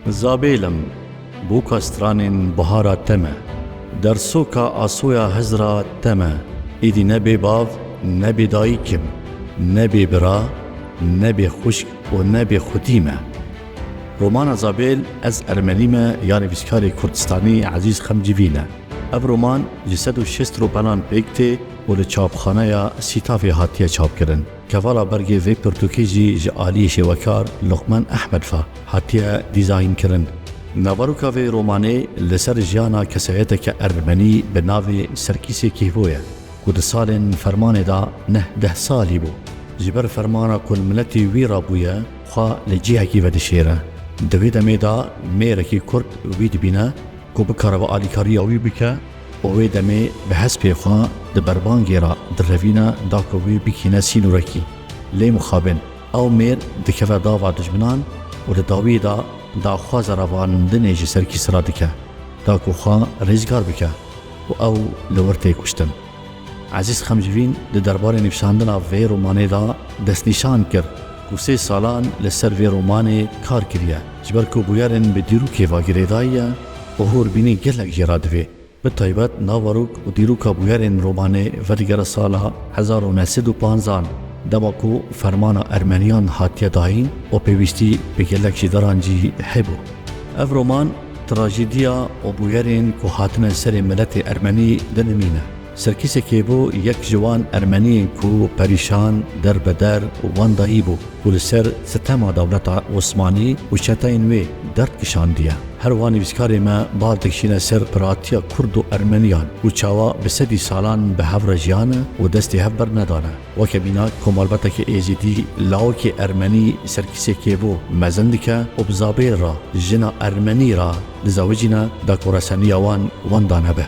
Zabêlim, boka stranên bihara te me. Dersoka asoya Hizra te me. Êdî ne bê bav, ne bê dayik im. Ne bê bira, ne bê xwişk û ne bê xwitî me. Romana Zabêl Ez Ermenî me ya nivîskarê Kurdistanî Ezîz Xemcîvî ne. Ev roman ji sed û şêst ropanan pêk tê û li çapxaneya Sîtafê hatiye çapkirin. Kevala bergê vê pirtûkê jî ji aliyê şêwekar Luqman Ehmed ve hatiye dîzaynkirin. Naveroka vê romanê li ser jiyana kesayeteke ermenî bi navê Serkîsê Kîhvo ye ku di salên fermanê de neh deh salî bû. Ji ber fermana ku li miletê wî re bûye, Xwe li cihekî vedişêre. Di vê demê de mêrekî Kurd wî dibîne ku bikare vê alîkariya wî bike û wê demê bi hespê xwe di berbangê re direvîne da ku wê bikîne sînorekî. Lê mixabin ew mêr dikeve dava dijminan û li dawiyê de daxwaza ravarindinê ji ser kîsra dike da ku xwe rêzgar bike û ew li wir tê kuştin. Ezîz Xemcivîn di derbarê nivîsandina vê romanê de destnîşan kir ku sê salan li ser vê romanê kar kiriye ji ber ku bûyerên bi dîrokê ve girêdayiye û hûrbînî gelek jê re divê bi taybet naverok û dîroka bûyerên romanê vedigere sala hezar û neh sed û panzdeh dema ku fermana Ermeniyan hatiye dayîn û pêwîstî bi gelek jî dirancî hebû. Ev roman Trajediya û bûyerên ku hatine serê miletê ermenî di nimîn e. Serkîsekê bû yek ji wan ermeniyên ku perîşan, derbeder û wendayî bû ku li ser sitema dewleta Osmanî û çeteyên wê derd kişandiye. Her wan nivîskarê me bal dikişîne ser piratiya kurd û ermeniyan ku çawa bi sedî salan bi hev re jiyane û destê hev bernedane. Weke mîna ku malbatekî êzidî lawikî ermenî ser kîsê kêbo mezin dike û bi zabêr re jina ermenî re dizewicîne da ku reseniya wan wenda nebe.